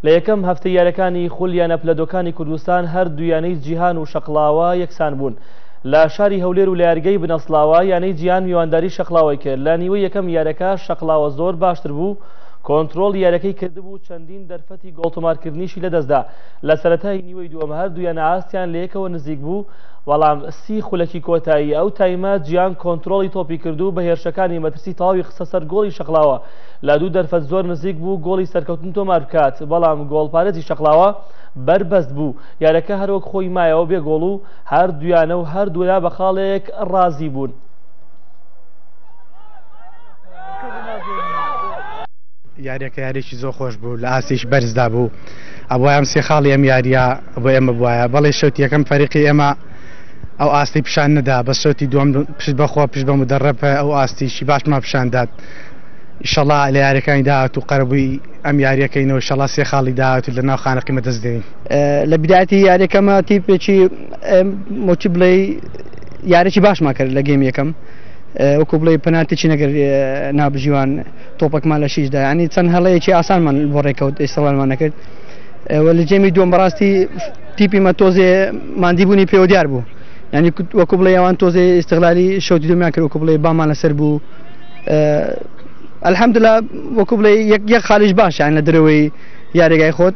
لە یەکەم هەفتەی یانەکانی خول یانە پلە دۆکانی کوردستان هەر دوو یانەی جیهان و شەقڵاوە یەکسان بوون لە شاری هەولێر و لە یاریگای بنەسڵاوە یانەی جیهان میوانداری شەقڵاوەی کرد لە نیوەی یەکەم یارەکە شەقڵاوە زۆر باشتر بوو کۆنترۆڵی یارەکەی کردبوو چەندین دەرفەتی گۆڵتۆمارکردنیشی لەدەستدا لە سەرەتای نیوەی دووەم هەر دوو یانە ئاستیان لە یەکەوە نزیک بوو بەڵام سی خولەکی کۆتایی ئەو تایمە جیهان کۆنترۆڵی تۆپی کردو بە هێرشەکانی مەترسی تەواوی خستە سەر گۆڵی شەقڵاوە لە دوو دەرفەت زۆر نزیک بوو گۆڵی سەرکەوتن تۆمار بکات، بەڵام گۆڵپارێزی شەقڵاوە بەربەست بوو، یاریەکە هەروەک خۆی مایەوە بێ گۆڵ و هەردوو یانە و هەردوولا بە خاڵێک رازی بوون. یاریەکە یاریەکی زۆر خۆش بوو لە ئاستێکی بەرزدا بوو، ئەبوایە ئەم سێ خاڵی ئەم یاریە بۆ ئێمە بوایە، بەڵی شەوتی یەکەم فەریقی ئێمە ئەو ئاستی پیشان نەدا، بەس شەوتی دووەم پشت بەخوا پشت بە مدەڕەب ئەو ئاستیکی باشمان پیشان داد. ئیشەڵا لە یاریەکانی داهات و قەرەبووی ئەم یاریەکەینەوە شەڵا سێ خاڵی داهات و لە ناو خانەقیمە دەست دێنین لە بداتی یاریەکەمە تیپێکی مۆچی بڵێ یاریی باشمان کرد لە گەم یەکەم وەکو بڵێ پەناتێکی نەگەر نابژیوان تۆپەکمان لە شیشدا ینی چەند هەڵەیەکی ئاسانمان بۆ ڕێکەوت ئێستاوانمان نەکرد لە جێمی دوم بەڕاستی تیپی مە تۆزێ مادیبوونی پێوە دیار بوو ینی وەکو بڵێ ئەوان تۆزێ ئێستغلالی شەوتی دومیان کرد وەکو بڵێ بامان لەسەر بوو ئەلحەمدلا وەکو بڵێ یەک یەک خالیش باشیان لە درەوەی یاریگای خۆت